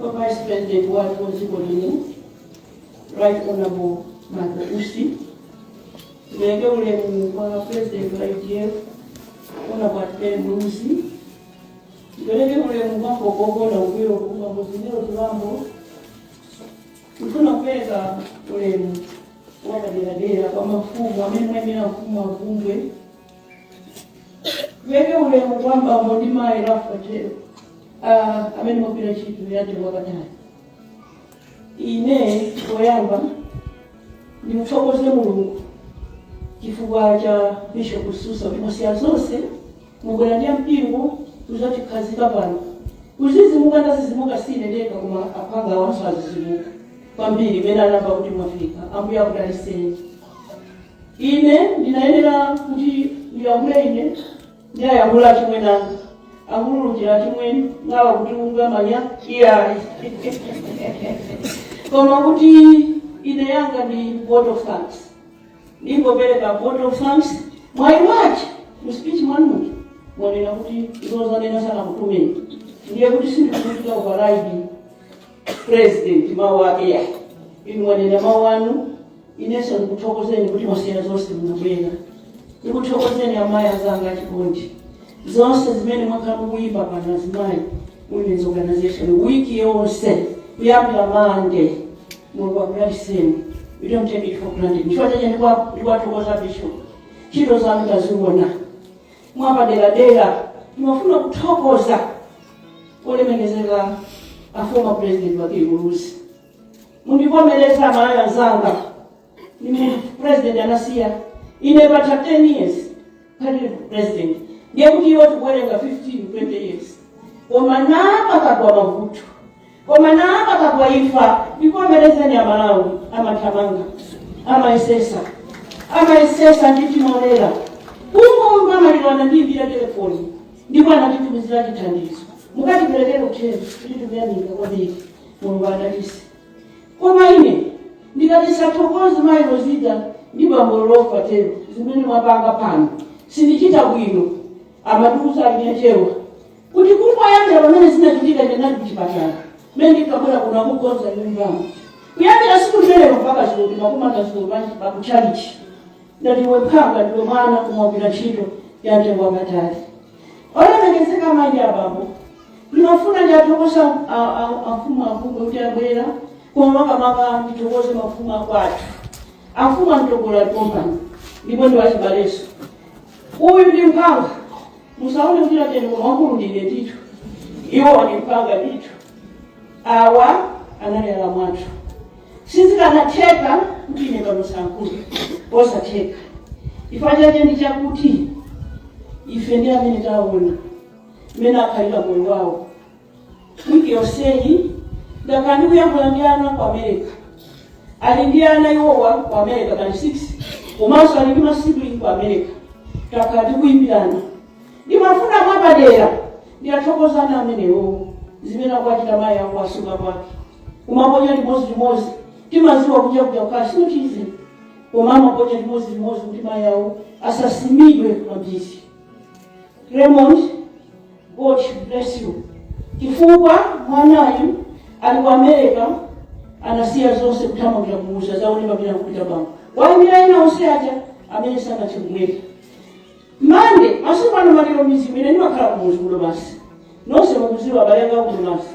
Kwa Vice President wathu wa dziko lino Right Honorable Michael Usi, tipeleke ulemu kwa President wa UDF Honorable Atupele Muluzi, tipeleke ulemu kwa Mbogogo na Ugwiro Kumba Muzimiro Tulambo, tifuna kupeleka ulemu wapaderadera kwa mafumu amene mwemera mfumu wa Vumbwe Tipeleke ulemu kwa bambo ndi mayi lafa tero ah, amene mwagwira ntchito ya mtengo wapatali ine poyamba ndimuthokoze mulungu chifukwa cha bishop susa kuti mwasiya zonse mwabwera ndi mpingo kuzatikhazika pano kuzizimuka ndazizimuka sine ndekha koma aphwanga awanso azizimuka kwambiri mmene anamva kuti mwafika ambuye akudaliseni Ine ndinayenera kuti ndiyankhule ine ndi ayankhula achimwene anga akululukira achimwene ngawa kuti unga manya iyayi koma kuti ine yanga ndi vote of thanks ndingopereka vote of thanks mwayi wache mu speech mwanuja mwanena kuti izo zonena sanakutumeni ndiye kuti sindikuchita override president mawu ake ya inu mwanena mawu anu inenso ndikuthokozeni kuti mwasiya zonse munabwera ndikuthokozeni amayi azanga achikondi zonse zimene mwakhala mukuyimba pano azimayi women's organization wiki yonse kuyambira mande mulungu akudaliseni we don't take it for granted ndicho chache ndikuwathokoza bishop ntchito zanu taziona mwapaderadera ndimafuna kuthokoza olemekezeka a former president Bakili Muluzi mundivomereza amalawi anzanga ine president ndinasiya ine patha 10 years palibe president ndiye kuti iwo tikuwerenga 15 20 years koma na pakagwa mavuto Koma na pakagwa imfa ndivomerezeni amalawi amathamanga amayesesa amayesesa ndi timolera kungomva amaliro anandiimbira telefoni ndipo anatitumizira chithandizo mukatiperekere uthenga kuti tikuyamika kwambiri mulungu adalise koma ine ndikati ndisathokoze mayi rozida ndi bambo lofa tero zimene mwapanga pano sindichita bwino amatiuza alinyachewa kuti kungoyambira pamene zinachitika ndinali kuchipatala mene ndikabwera kuno akukonza nyumbamo kuyambira siku limenelo mpaka dzulo timakumana dzulo panja pakutchalitchi ndati iwe mphwanga ndiwe mwana koma mwagwira ntchito ya mtengo wapatali olemekezeka mayi abambo ndimafuna ndiwathokoze amfumu akulu kuti abwera koma makamaka ndithokoze mafumu akwathu amfumu a Mtogolo tombani ndipo ndiwachibaleso uyu ndi mphwanga musaone kuti atende koma wakulu ndine ndithu iwo wandipanga ndithu awa anali alamu athu sizikanatheka kuti ine pano osayankhula osatheka chifukwa chake ndi chakuti ife ndi amene taona mmene akhalira moyo wawo wiki yonseyi ndakhala ndikuyankhula ndi ana ku america ali ndi ana iwowa ku america kani 6 komanso ali ndi masibling ku america takhala tikuyimbirana ndimafuna mwapadera ndiwathokoze ana amenewo zimene akuwachita mayi awo asuka kwake kumaponya limodzi limodzi timaziwa kunja kuja kukhala simuchizi koma amaponya limodzi limodzi kuti mayi awo asasimidwe kwambiri raymond God should bless you chifukwa mwanayu ali ku america anasiya zonse kuthamangira kumuzi azaone pamene akupita bambo waimira ena onse aja amene sanathe kubwera mande masiku ano maliro m'mizimu ine ndimakhala kumuzi ku domasi nonse mukuziwa abale anga ku domasi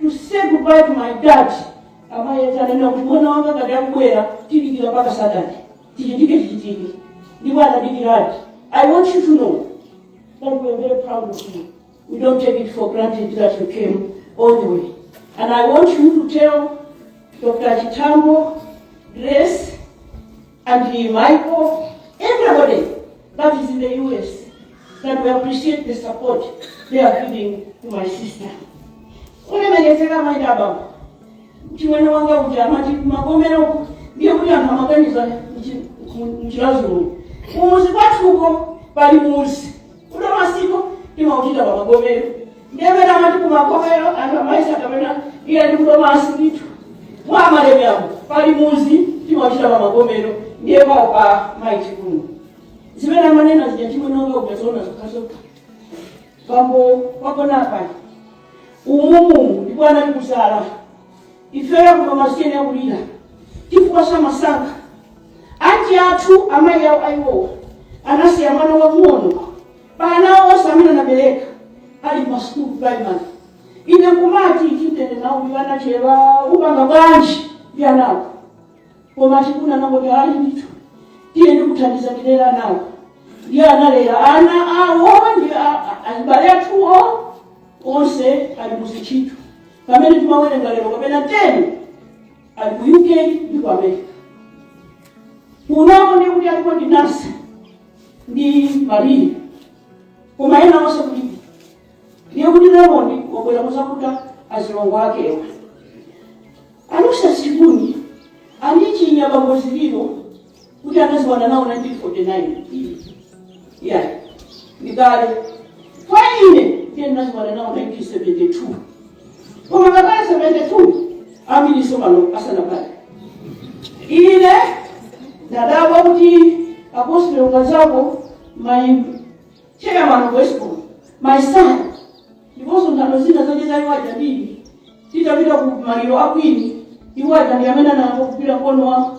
to say goodbye to my dad amayi ati ananena kuti mwana wanga ngati akubwera tidikira mpaka saturday chichitike chichitike ndipo anadikiradi i want you to know that we are very proud of you we don't take it for granted that you came all the way and i want you to tell dr chitambo grace And Michael, everybody that is in the US, that we appreciate the support they are giving to my sister. Ulemekezeka mayi baba. Chimwene wanga uja amati magomero uku ndiye kuti anthu amaganiza m'Chiradzulu. Kumuzi kwathuko pali muzi. Ku Domasiko timauchita pa magomero nde mmene amati ku magomero anthu amayesa kapena iyayi ndi ku Domasi ndithu mwa a Malemiamo pali muzi timauchita pa magomero ndiye pawo pa mayi Chikuni zimene amanena zija chimwene wanga uja zoona zokhazokha bambo wagonapa umumu ndipo anali kusala ifeyo amasiye tiyenera kulira chifukwa samasankha anti athu amayi awo a iwowa anasiya mwana wang'ono pa ana onse amene anabereka ali pa school primary ine kumati chitende nawo uyu anachera upanga bwanji ndi anawo koma chikuni anangoti ali ndithu tiye ndikuthandiza ndilera anawo ndiye analera ana awo ndi a- a- achibale athuwo onse ali mu zintchito pamene timawerenga lero kapena 10 ali ku uk ndi ku america kunoko ndiye kuti alipo ndi nasa ndi mariya koma ena onse kulibe ndiye kuti raymond wabwera kuzakuta azilongo akewa alusa chikuni anichinya bambo zililo kuti anaziwana nawo 1949 yeah ndikale kwa ine ndiye ndinaziwana nawo 1972 koma ngakhale 72 ambirinso pano asanabadwe ine ndadabwa kuti a Gospel Kazako my chairman of westbon my son ndiponso nthano zina zocheza iwaja ndili titapita ku maliro a Queen iwaja ndi amene anagwira mkono wa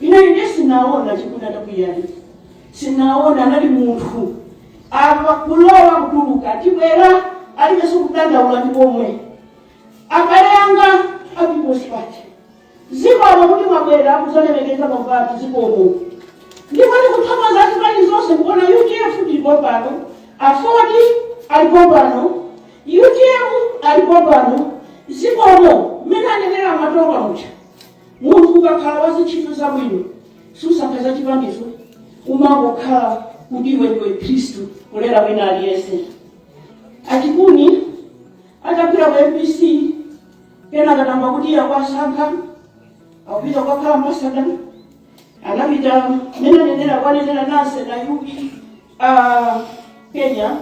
Ine, ine sinaona Chikuni atakwiya, sinaona anali munthu apa kulowa kutuluka tibwera alibenso kudandaula ndi komwe abale anga a People's Party zikomo kuti mwabwera kuzalemekeza mavati zikomo ndipo ndikuthokoza zipani zonse kuona UDF alipo pano Aford alipo pano UTM alipo pano zikomo mmene anenera matonga mucha Munthu ukakhala wazintchito zabwino susankha zachipaninso umangokhala kuti iwe ndiwe khristu kulera wina aliyese a Chikuni atapita ku MBC kenaka atamva kuti iye akuwasankha akupita kukakhala ambasada anapita mene anenera kwanenera nase na UK uh, kenya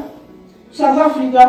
south africa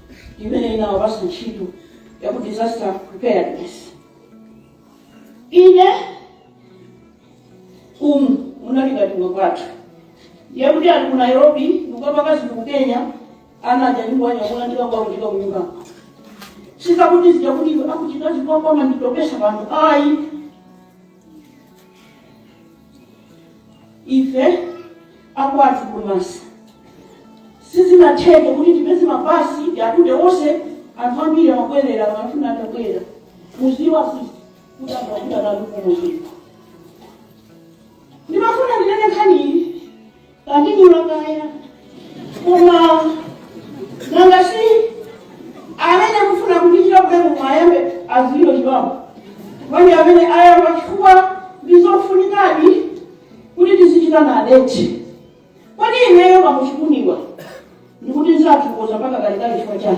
imene inawapasa ntchito ya ku disaster preparedness ine umu munali ngati kuno kwathu ndiye kuti ali ku nairobi ndikukapaka zinthu ku kenya ana aja ndikuwanyamula ndikakuwakutika kunyumba sizakuti zijakuti akuchita zikokoma nditopesa anthu ayi ife akwathu ku Domasi sizinatheke kuti tipeze mabasi atute onse anthu ambiri amabwerera amafuna atabwera muziwa sisi kuti amafuna kalukumuzika ndimafuna ndinene nkhani iyi Pandidula kaya. Koma nanga si amene akufuna kundichita ulemu ayambe aziliro chiwapo. Manje amene ayamba chifukwa ndizofunikadi kuti tizichita na adeti. Kodi ineyo pa a Chikuniwa ndikuti nzathokoza mpaka kalekale chifukwa chani?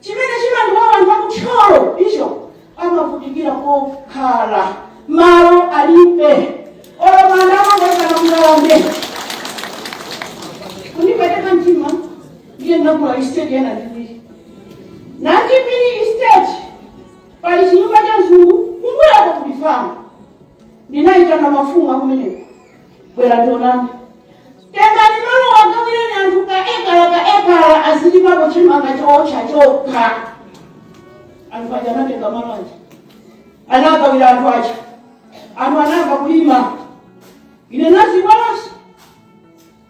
Chimene chimandiwawa anthu aku Thyolo icho amavutikira kokhala malo alibe olo manda amangoikana kungalande kundipweteka mtima ndiye ndinagula estate ina ndipiri nachipiri estate pali chinyumba cha mzungu kumbuyako kuli famu ndinayitana mafumu akumeneko bwera tionana tengani malo wagawireni anthu ka ekala ka ekala azilimapo chimanga chokhachokha anthu aja anatenga malo aja anagawira anthu aja anthu anayamba kulima ine naziwalanso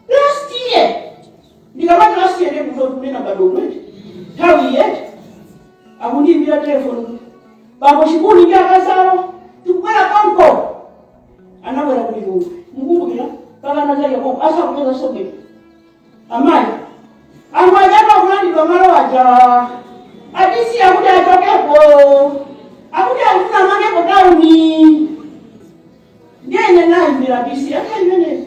last year ndikamati last year ndekutotunena badomwete nthawi yoti akundiimbira telefoni bambo chikuni ndi akazawo tikubwera konko anabwera ku lilongwe mukumbukira pakana za yakobo asakupeza zobwera amayi anthu achapa kulandidwa malo aja adisi akuti achokepo akuti akufuna amangepo tauni ndiye ine nayimbira bisi acha imenezo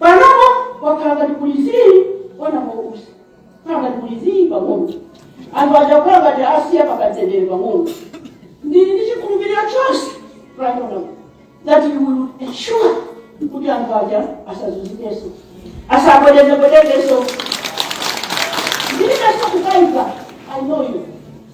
Panopo kwakhala ngati kuli zii wanamkusa wakhala ngati kuli zii pang'ono anthu aja kukhala ngati asiya akamtendere pang'ono ndili ndi chikhulupiriro chonse panopo that you will ensure kuti anthu aja asazunzikenso asabwedezebedekenso ndilibenso kukaika i know you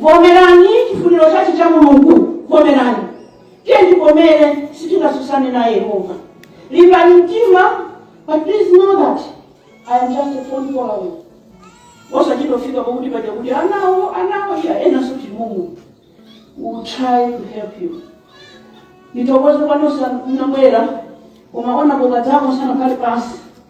Vomerani chifuniro chache cha Mulungu, vomerani. Tiyeni tivomere, sitingatsutsane naye Yehova. Limbani mtima, but please know that I am just a phone call away. Osachita kufika pakuti paja kuti anawo anawo iya enanso timumu. We will try to help you. Ndithokoze kwa nonse munabwera koma ona boga zako sana pali pansi.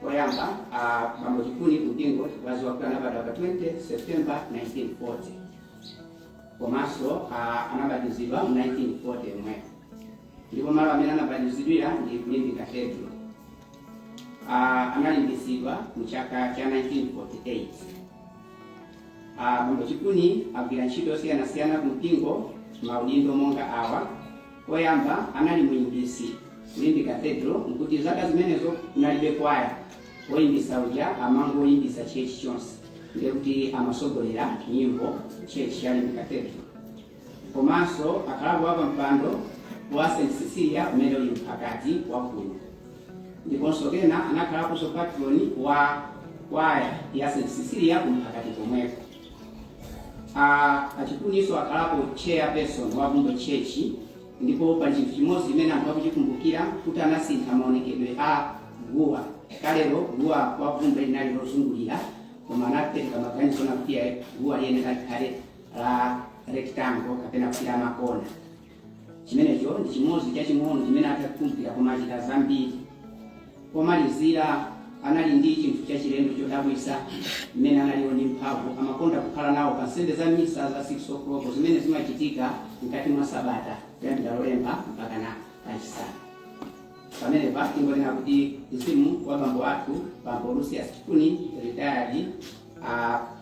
Poyamba a Bambo Chikuni kumpingo kwadziwika kuti anabadwa pa 20 September 1940 komanso a- anabatizidwa mu 1940 momwe ndipo malo amene anabatizidwira ndi ku Limbe Cathedral. Ah, analimbitsidwa mu chaka cha 1948. Ah, Bambo Chikuni agwira ntchito zosiyanasiyana ku mpingo maudindo monga awa Poyamba anali muyimbitsi ku Limbe Cathedral, nkuti zaka zimenezo kunalibe kwaya, oyimbitsa uja amangoyimbitsa church chonse ndiye kuti amatsogolera nyimbo church cha Limbe Cathedral komanso akhalapo wa pampando wa St Cecilia umene uli mphakati wa kuno ndiponso pena anakhalaponso patron wa kwaya ya St Cecilia kumphakati komweko. A Chikuninso akhalapo chair person wa Bvumbwe Church ndipo pa chinthu chimodzi chimene anthu akuchikumbukira kuti anasintha maonekedwe a guwa. Kalero guwa kwa Bvumbwe linali lozungulira koma anapereka maganizo na kuti guwa liyenera likhale la rectangle kapena kuti la makona. Chimenecho ndi chimodzi chaching'ono chimene atha kukumbukira, koma achita zambiri. Pomalizira, anali ndi chinthu chachilendo chodabwitsa, mmene analiri ndi mphamvu. Amakonda kukhala nawo pa nsembe za Misa za 6 o'clock zimene zimachitika mkati mwa sabata kuyambira Lolemba mpakana Lachisanu. Pamenepa tingonena kuti mzimu wa bambo athu, Bambo Lucius Chikuni, Retired, a.